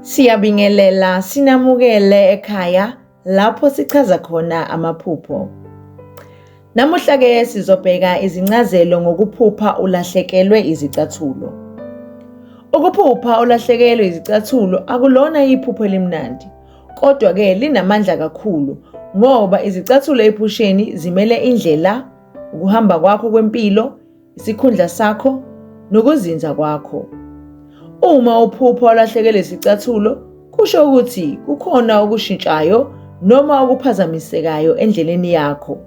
Siyabingelela sinamukele ekhaya lapho sichaza khona amaphupho. Namuhla ke sizobheka izincazelo ngokuphupha ulahlekelwe izicathulo. Ukuphupha ulahlekelwe izicathulo akulona iphupho elimnandi Kodwa-ke linamandla kakhulu ngoba izicathulo ephusheni zimele indlela, ukuhamba kwakho kwempilo, isikhundla sakho nokuzinza kwakho. Uma uphupha olahlekelwe isicathulo kusho ukuthi kukhona okushintshayo noma okuphazamisekayo endleleni yakho.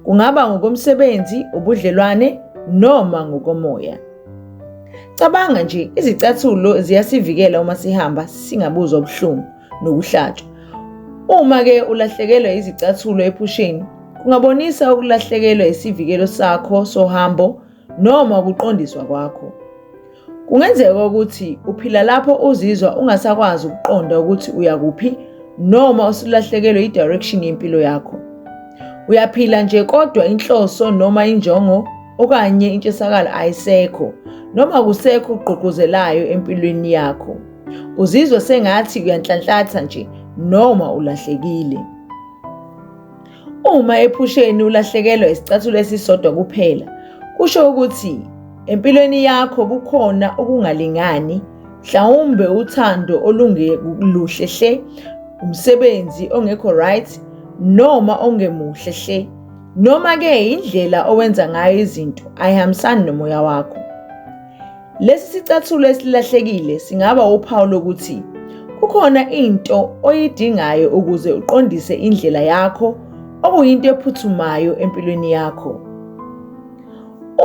Kungaba ngokomsebenzi, ubudlelwane noma ngokomoya. Cabanga nje, izicathulo ziyasivikela uma sihamba singabuzwa ubuhlungu nokuhlatshwa. Uma-ke ulahlekelwa izicathulo ephusheni, kungabonisa ukulahlekelwa isivikelo sakho sohambo noma ukuqondiswa kwakho. Kungenzeka ukuthi uphila lapho uzizwa ungasakwazi ukuqonda ukuthi uya kuphi noma usulahlekelwe i-direction yempilo yakho. Uyaphila nje kodwa inhloso noma injongo okanye intshisakalo ayisekho noma kusekho ugqugquzelayo empilweni yakho uzizwe sengathi uyanhlanhlatha nje noma ulahlekile uma ephusheni ulahlekelwa isicathulo esisodwa kuphela kusho ukuthi empilweni yakho kukhona ukungalingani mhlawumbe uthando olungekuluhle hle umsebenzi ongekho right noma ongemuhle hle Noma-ke indlela owenza ngayo izinto ayihambisani nomoya wakho. Lesi sicathulo esilahlekile singaba uphawu lokuthi kukhona into oyidingayo ukuze uqondise indlela yakho okuyinto ephuthumayo empilweni yakho.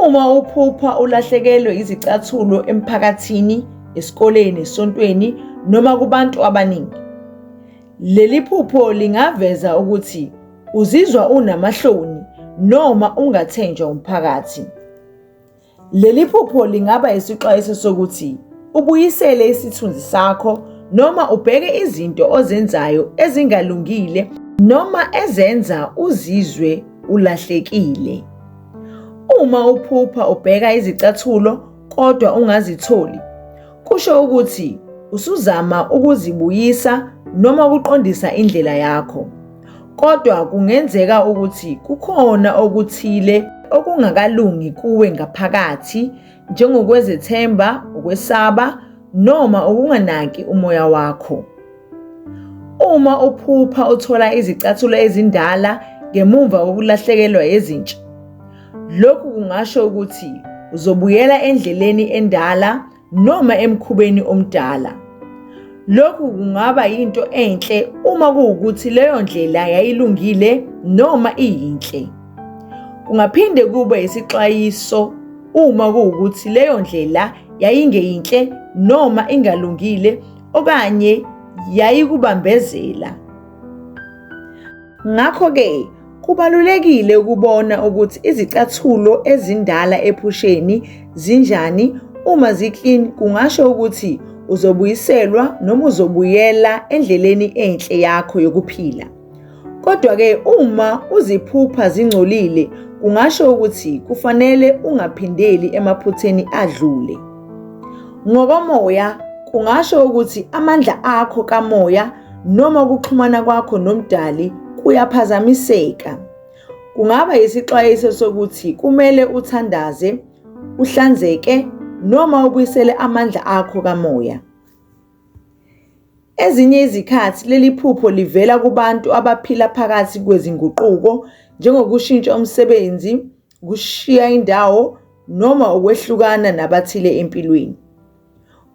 Uma uphupha ulahlekelwe izicathulo emphakathini, esikoleni, esontweni noma kubantu abaningi, leli phupho lingaveza ukuthi Uzizwa unamahloni noma ungathenjwa umphakathi. Leli phupho lingaba isixwayiso sokuthi ubuyisele isithunzi sakho noma ubheke izinto ozenzayo ezingalungile noma ezenza uzizwe ulahlekile. Uma uphupha ubheka izicathulo kodwa ungazitholi, kusho ukuthi usuzama ukuzibuyisa noma ukuqondisa indlela yakho. Kodwa kungenzeka ukuthi kukhona okuthile okungakalungi kuwe ngaphakathi, njengokwezethemba, ukwesaba, noma ukunganaki umoya wakho. Uma uphupha uthola izicathulo ezindala ngemumva kokulahlekelwa ezintsha, lokhu kungasho ukuthi uzobuyela endleleni endala noma emkhubeni omdala. Lokhu kungaba yinto enhle uma kuwukuthi leyo ndlela yayilungile noma iyinhle. Kungaphinde kube isixwayiso uma kuwukuthi leyo ndlela yayingeyinhle noma ingalungile okanye yayikubambezela. Ngakho-ke kubalulekile ukubona ukuthi izicathulo ezindala ephusheni zinjani uma ziklini kungasho ukuthi uzobuyiselwa noma uzobuyela endleleni enhle yakho yokuphila. Kodwa-ke uma uziphupha zingcolile kungasho ukuthi kufanele ungaphindeli emaphutheni adlule. Ngokomoya kungasho ukuthi amandla akho kamoya noma ukuxhumana kwakho nomdali kuyaphazamiseka. Kungaba yisixwayiso sokuthi kumele uthandaze, uhlanzeke noma ubuyisele amandla akho kamoya. Ezinye izikhathi leli phupho livela kubantu abaphila phakathi kwezinguquko njengokushintsha umsebenzi, ukushiya indawo noma ukwehlukana nabathile empilweni.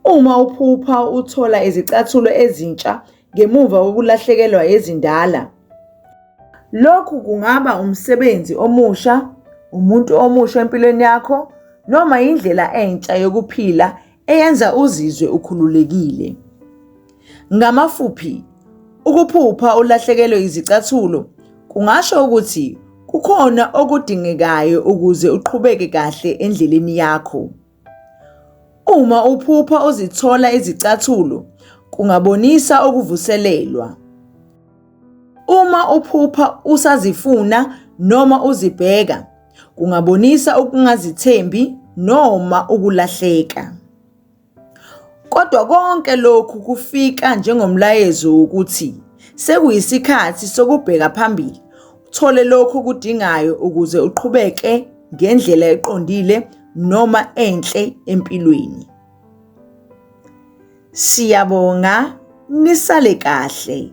Uma uphupha uthola izicathulo ezintsha ngemuva kokulahlekelwa ezindala, lokhu kungaba umsebenzi omusha, umuntu omusha empilweni yakho noma indlela entsha yokuphila eyenza uzizwe ukhululekile. Ngamafuphi, ukuphupha ulahlekelwe izicathulo kungasho ukuthi kukhona okudingekayo ukuze uqhubeke kahle endleleni yakho. Uma uphupha uzithola izicathulo kungabonisa ukuvuselelwa. Uma uphupha usazifuna noma uzibheka kungabonisa ukungazithembi noma ukulahleka. Kodwa konke lokhu kufika njengomlayezo wokuthi sekuyisikhathi sokubheka phambili uthole lokho okudingayo ukuze uqhubeke ngendlela eqondile noma enhle empilweni. Siyabonga nisale kahle.